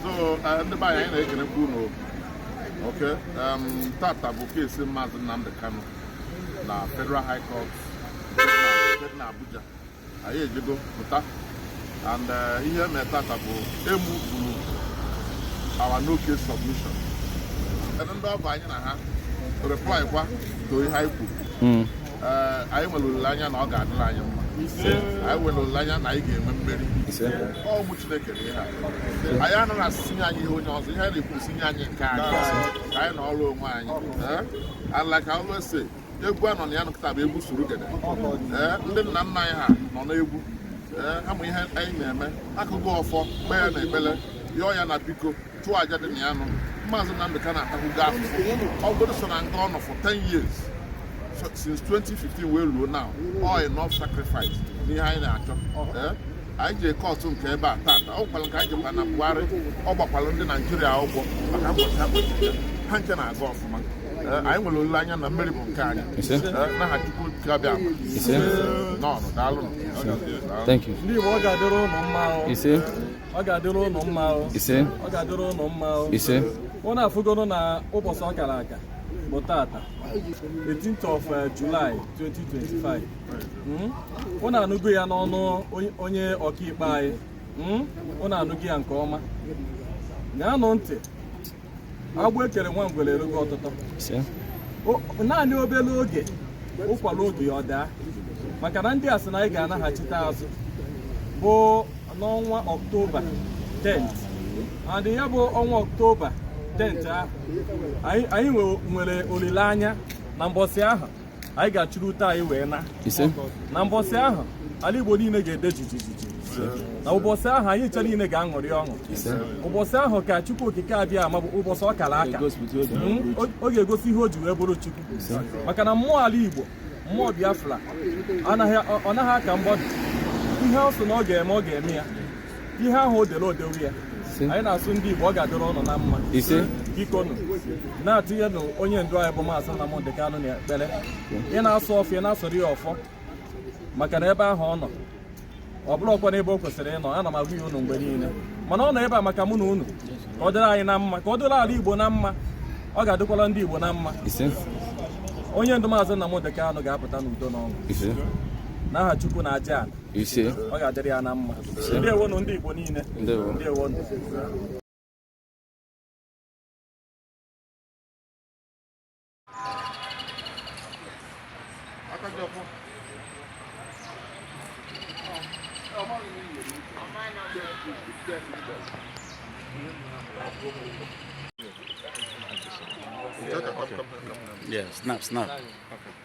so uh, ndị be anyị anyị na-ekelekwa unu okay um, tata bụ keesi maazị Nnamdi Kanu na Federal High Court dị na Abuja anyị ejego pụta and uh, ihe mere tata bụ e muvuru our no case submission ndị ọ bụ anyị na ha reply kwa to ihe anyị kwuru hmm. anyị nwere olileanya na ọ ga-adịrị anyị mma anyị nwere olileanya na anyị ga-enwe mmeri ọ bụ Chineke na ihe a anyị anaghị asị sị nye anyị ihe onye ọzọ ihe anyị na-ekwu sị nye anyị nke anyị ka anyị nọrọ onwe anyị and like I always say egwu a nọ na ya kịta bụ egwu surugede ndị nna nna anyị ha nọ n'egwu a ma ihe anyị na-eme a gọọ ọfọ kpee ya na ekpele yọọ ya na biko chụọ aja dị na ya nụ maazị Nnamdi Kanu atahụgo afụfụ ọ bụrụ sọ na nga ọ nọ for 10 years since 2015 wee ruo now all enough sacrifice n'ihe anyị na-achọ eh? anyị ji kọtụ nke ebe a tata ọ gwara nke anyị jikwa na Bwari ọ gbakwara ndị Naijiria ụgwọ maka mkpọchi a kpọchi ha ncha na-aga ọfụma eh, anyị nwere olileanya na mmeri bụ nke anyị eh, n'aha Chukwu Okike Abịama nnọọ nụ daalụ ndị Igbo ọ ga-adịrị ụnụ mma ọ ga-adịrị ụnụ mma o ise ọ ga-adịrị ụnụ mma o ise ụnụ afụgoro na ụbọchị ọ kara aka bụ tata 18th of uh, July 2025 Hmm? ụnụ anụgo ya n'ọnụ onye- onye ọkaikpe anyị Hmm? ụnụ anụgo ya nke ọma ṅaanụ ntị agbụ e kere nwa ngwere erugo ọtụtọ naanị obere oge ụkwa ruo oge ya ọ daa maka na ndị a sị na anyị ga-anaghachite azụ bụ n'ọnwa ọktoba 10th and ya bụ ọnwa ọktoba 10th ahụ anyị nwere olileanya na mbọsị ahụ anyị ga-achịrị ute anyị wee naa na mbọsị ahụ ala Igbo niile ga-ede jijijiji na ụbọchị ahụ anyị ncha niile ga-aṅụrị ọṅụ ụbọchị ahụ ka Chukwu Okike Abịama bụ ụbọchị ọ kara aka hmm? ọ ga-egosi ihe o ji wee bụrụ Chukwu maka na mmụọ ala Igbo mmụọ Biafra ọ naghị aka mgbọdụ ihe ọ sị na ọ ga-eme ọ ga-eme ya ihe ahụ o dere o dewo ya anyị na-asị ndị Igbo ọ ga-adịrị ụnụ na mma ise bikonu na-atụnyenụ onye ndu anyị bụ maazị Nnamdị Kanụ na ekpere ị na-asụ ọfọ ị na-asụrụ ya ọfọ maka na ebe ahụ ọ nọ ọ bụrọkwanụ ebe o kwesịrị ịnọ ana m agwa ya unu mgbe niile mana ọ nọ ebe a maka mụ na unu ka ọ dịrị anyị na mma ka ọ dịrị ala Igbo na mma ọ ga-adịkwala ndị Igbo na mma onye ndu maazị Nnamdị Kanụ ga-apụta n'udo n'ọṅụ n'aha Chukwu na aja ala ise ọ ga-adịrị ya na mma ndewonụ ndị Igbo niile ndewonụ Yeah, snap, snap. Okay.